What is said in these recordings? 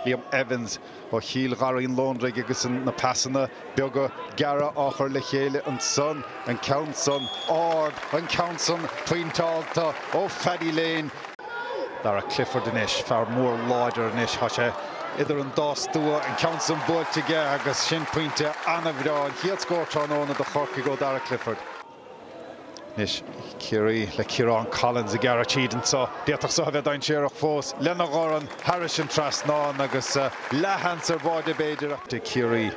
Liam Evans, ó Chill Gharraí an Londraigh agus na pasanna beaga gearra á chur le chéile ansan, an ceann san ard, an ceann san pointeálta ó Phaddy Lane, Darragh Clifford anois, fear mór láidir anois, tá sé idir an dá stua, an ceann san buailte aige agus sin pointe an-bhreá, an chéad scór tráthnóna do Chorcaigh ó Dharragh Clifford. Anois Ciarraí le Ciarán Collins ag gearradh tríd anseo. D'fhéadfadh seo a bheith dainséarach fós. Lena dhorn thairis an trasnán agus leathsheans ar bháide b'fhéidir ag Ciarraí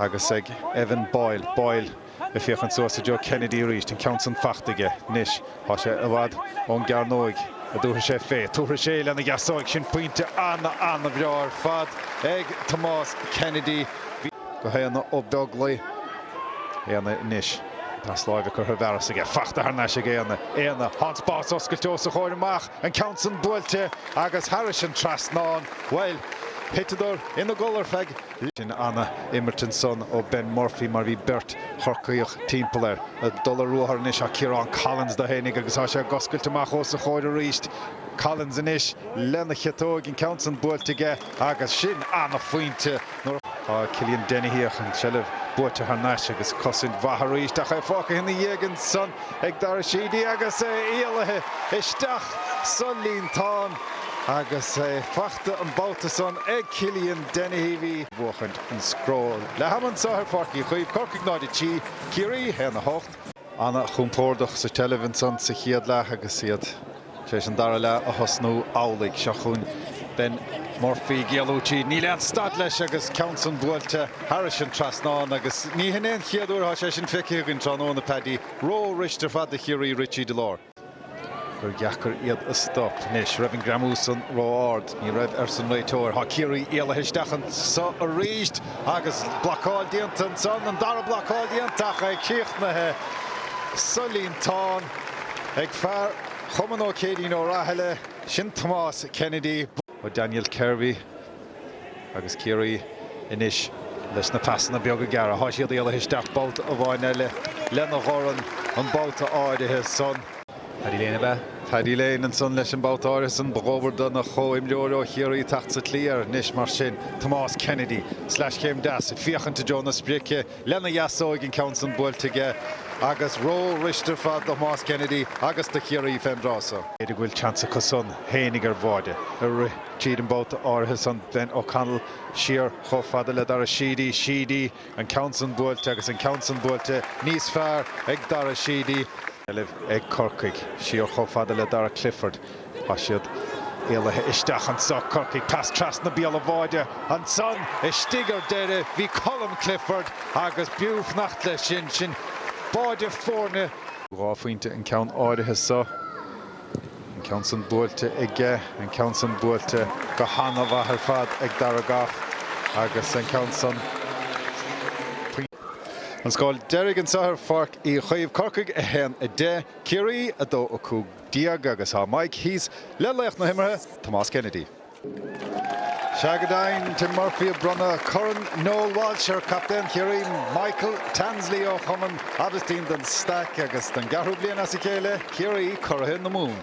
agus ag Evan Boyle. Boyle ag féachaint suas i dtreo Kennedy arís. An ceann san fachta aige anois. Tá sé i bhfad ón gcearnóig an dtabharfaidh sé fé. Tabharfaidh sé lena dheasóig. Sin pointe an-an-bhreá ar fad ag Tomás Kennedy. Go hAodhna Ó Beaglaoich. Aodhna anois. Pas láimhe curtha i bhfearas aige, fachta thar n-ais ag Aodhna. Aodhna, tá an spás oscailte os a chomhair amach, an ceann san buailte agus thairis an trasnán. Bhuel, thiteadar ina gcodladh ar feadh. Sin ana-imirt ansan ó Ben Murphy mar bhí beirt Chorcaíoch timpeall air. Ag dul ar ruathar anois tá Ciarán Collins dó fhéinig agus tá sé ag oscailt amach os a chomhair arís. Collins anois lena chiotóig, an ceann san buailte aige. Agus sin an-phointe nuair a. Tá Killian Dennehy ach an tseilbh buaite thar n-ais agus cosaint mhaith arís ach é fágtha ina dhiaidh ansan ag Dara Sheedy agus é éalaithe isteach sa líontán agus é fachta an babhta san ag Killian Dennehy. Bhí. bhuachaint an scór leath-am anso ar Pháirc Uí Chaoimh, Corcaigh 0, 3, Ciarraí 1, 8. Ana-chompórdach sa tseilbh ansan sa chéad leath agus iad. Tar éis an dara leath a thosnú amhlaidh, seo chugainn Ben Murphy, ag éalú tríd. Níl aon stad leis agus ceann san buailte thairis an trasnán agus ní hin é an chéad uair atá sé sin feicthe againn tráthnóna, Paddy. Ró-fhuiriste ar fad do Chiarraí rith tríd an lár. Gur dheacair iad a stop. Anois raibh an greamú san ró-ard. Ní raibh, arsa an réiteoir. Tá Ciarraí éalaithe isteach anseo arís. Agus blocáil déanta ansan, an dara blocáil déanta, ach é críochnaithe sa líontán ag fear Chumann Ó Céirín Ó Rathaille, sin Tomás Kennedy. Ó Daniel Kirby agus Ciarraí anois leis na pasanna beaga gearra. Tá siad éalaithe isteach babhta amháin eile lena dhorn an babhta áirithe san. Paddy Lane ab ea? Paddy Lane ansan leis an babhta áirithe san. Ba dhóbair dona chomhimreoir ó Chiarraí teacht sa tslí air anois mar sin, Tomás Kennedy. Sleaschéim deas, ag féachaint i dtreo na sprice lena dheasóig, an ceann san buailte aige agus ró-fhuiriste ar fad do Thomás Kennedy agus do Chiarraí fén dtráth so. B'fhéidir go bhfuil seans acu san fhéinig ar bháide ag rith tríd an mbabhta áirithe san. Ben O'Connell siar chomh fada le Dara Sheedy. Sheedy. An ceann san buailte agus an ceann san buailte níos fearr ag Dara Sheedy. Seilbh ag Corcaigh. Siar chomh fada le Dara Clifford. Tá siad éalaithe isteach anso. Corcaigh pas trasna béal an bháide ansan istigh ar deireadh. Bhí Colm Clifford agus b'fhiú fanacht leis sin. Sin báide foirne. Dhá phointe an ceann áirithe so. An ceann san buailte aige, an ceann san buailte go hana-mhaith ar fad ag Dara Gough agus an ceann san. An scór deiridh anso ar Pháirc Uí Chaoimh, Corcaigh, 1, 10, Ciarraí, 2, 15 agus tá Mike thíos le laoch na himeartha, Tomás Kennedy. Sea go deimhin, Tim Murphy ag bronnadh Corn Noel Walsh ar chaptaen Chiarraí, Michael Tansley ó chumann Aibhistín de Staic agus don gceathrú bliain as a chéile Ciarraí Curaithe na Mumhan.